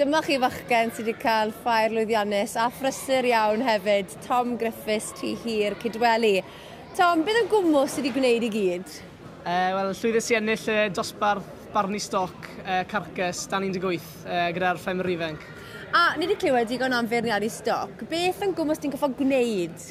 Dyma chi fachgen sydd wedi cael ffair lwyddiannus a phrysur iawn hefyd, Tom Griffiths, Tŷ Hir, Cydweli. Tom, beth yn gwmwl sydd wedi gwneud i gyd? Uh, Wel, llwyddes i ennill uh, dosbarth barnu stoc uh, carcus dan 18 uh, gyda'r ffermwyr ifanc. A ni wedi clywed digon am feirniadu stoc. Beth yn gwmwys ti'n goffa gwneud?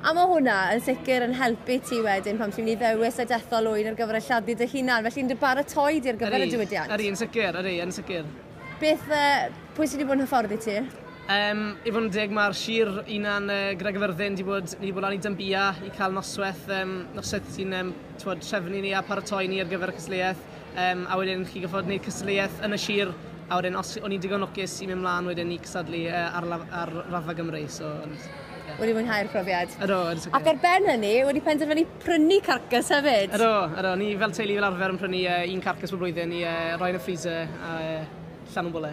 A mae hwnna yn sicr yn helpu ti wedyn pan ti'n mynd i ddewis y dethol ŵyn ar gyfer y lladdu dy hunan, felly yn dy baratoi di ar gyfer y diwydiant. Ydy, yn sicr, ydy, yn sicr. Beth, yy, pwy sydd wedi bod yn hyfforddi ti? Yym, i fod yn deg mae'r Sir Unan yy gyda Gyfyrddin wedi bod, ni wedi bod lan i Dynbia i cael nosweth yym nosweth sy'n yym t'wod trefnu ni a paratoi ni ar gyfer y cystadleuaeth. Um, a wedyn chi gyffod wneud cystadleuaeth yn y sir, a wedyn os o'n i'n digon lwcus i mynd mlaen wedyn i cystadlu uh, ar, ar rafa Gymru. So, ond, yeah. Wedi mwynhau'r profiad. Ydw, ydw. Ac ar ben hynny, wedi penderfynu prynu carcas hefyd. Ydw, ydw. Ni fel teulu fel arfer yn prynu uh, un carcas bob blwyddyn i uh, roi yn y freezer. A, uh, Llan yn bwle.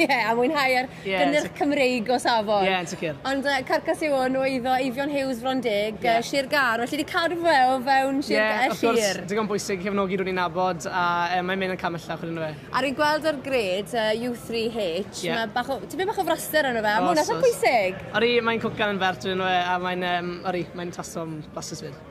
Ie, yeah, a mwynhau ar yeah, gynnyrch Cymreig o safon. Ie, yeah, yn sicr. Ond uh, carcas yw hwn o eiddo Eifion Hughes, Fron Deg, yeah. uh, Sir Gar, felly wedi cadw fe o fewn Sir yeah, Gar. Ie, wrth gwrs, digon bwysig cefnogi rwy'n i'n nabod a uh, mae'n mynd yn camella chwyd yn fe. A rwy'n gweld o'r gred uh, U3H, yeah. mae bach o, ti beth bach o fraster yn fe, a mwyn eithaf bwysig. Ori, mae'n cwcan yn fert yn fe, a mae'n, um, ori, mae'n tasom blasus fyd.